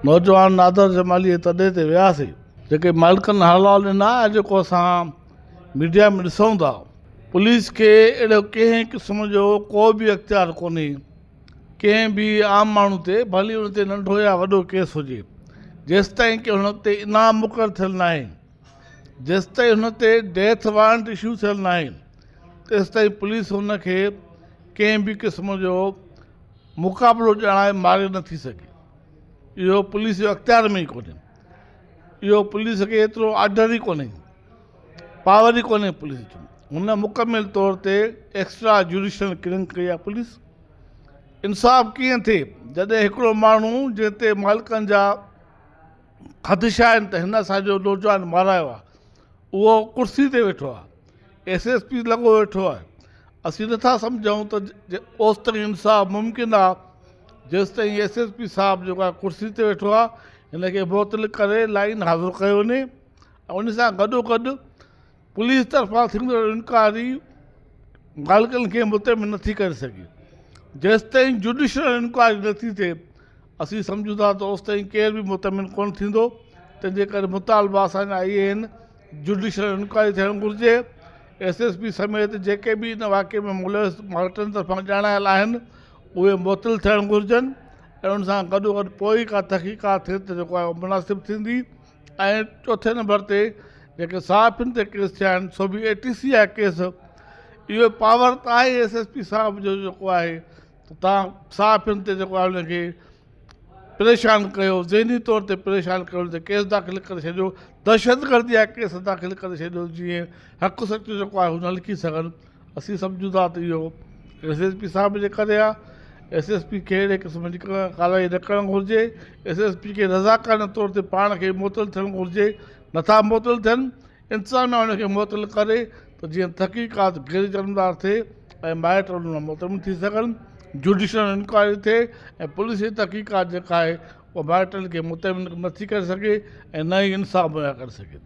نوجوان نادر جمالي جي تڏي تي وياسين. جيڪي مالڪن حلال ڏنا ۽ جيڪو اسان ميڊيا ۾ ڏسون ٿا. پوليس کي اهڙو ڪنهن قسم جو ڪو به اختيار ڪونهي ڪنهن به عام ماڻهو تي ڀلي ان تي ننڍو يا وڏو ڪيس هجي جيستائين ڪي هن تي انعام مقرر ٿيل ناهي جيستائين هن تي ڊيٿ وارنٽ اشو ٿيل ناهي تيستائين پوليس هن کي ڪنهن به قسم جو مقابلو ڄاڻائي ماري نٿي سگهي. اهو پوليس جي اختيار ۾ ئي ڪونهي اهو پوليس کي ايترو آرڊر ئي ڪونهي پاور ئي ڪونهي پوليس جو هن مڪمل طور تي ايڪسٽرا جوڊيشل ڪلنگ ڪئي آهي پوليس انصاف ڪيئن ٿئي جڏهن هڪڙو ماڻهو جنهن تي مالڪن جا خدشا آهن ته هن اسان جو نوجوان مارايو آهي اهو ڪرسي تي ويٺو آهي ايس ايس پي لڳو ويٺو آهي اسين نٿا سمجهون ته اوستائين انصاف ممڪن آ جيستائين ايس ايس پي صاحب جيڪو آهي ڪرسي تي ويٺو آ هن کي معطل ڪري لائين حاضر ڪيو وڃي ان سان گڏو گڏ پوليس طرفان ٿيندڙ انڪوائري مالڪن کي مطمئن نٿي ڪري سگهي جيستائين جوڊيشل انڪوائري نٿي ٿئي اسين سمجهون ٿا ته اوستائين ڪير به مطمئن ڪونه ٿيندو تنهنجي ڪري مطالبا اسان جا اهي آهن جوڊيشل انڪوائري ٿيڻ گهرجي، ايس ايس پي سميت جيڪي به ان واقعي ۾ ملوث مائٽن طرفان ڄاڻايل آهن اهي معطل ٿيڻ گهرجن ۽ ان سان گڏوگڏ پوء ئي ڪا تحقيقات ٿئي ته جيڪو آهي مناسب ٿيندي ۽ چوٿين نمبر تي جيڪي صحافين تي ڪيس ٿيا آهن سو به اي ٽي سي آهي ڪيس اهو پاور ته آهي ايس ايس پي صاحب جو جيڪو آهي ته تان صحافين تي جيڪو آهي ان کي پريشان ڪيو، ذهني طور تي پريشان ڪيو ته ڪيس داخل ڪري ڇڏيو، دهشتگردي جا ڪيس داخل ڪري ڇڏيو جيئن حق سچ جيڪو آهي هو نه لکي سگهن، اسين سمجهون ٿا ته اهو ايس ايس پي صاحب جي ڪري آهي، ايس ايس پي کي اهڙي قسم جي ڪارروائي نه ڪرڻ گهرجي، ايس ايس پي کي رضاڪارنه طور تي پاڻ کي معطل ٿيڻ گهرجي، نٿا معطل ٿين. انتظاميا ان کي معطل ڪري ته جيئن تحقيقات غير جانبدار ٿئي ۽ مائٽ ان مان مطمئن ٿي سگهن، جڊيشل انڪوائري ٿئي ۽ پوليسي تحقيقات جيڪا آهي اها مائٽن کي مطمئن نه ٿي ڪري سگهي ۽ نه ئي انصاف مهيا ڪري سگهي ٿي.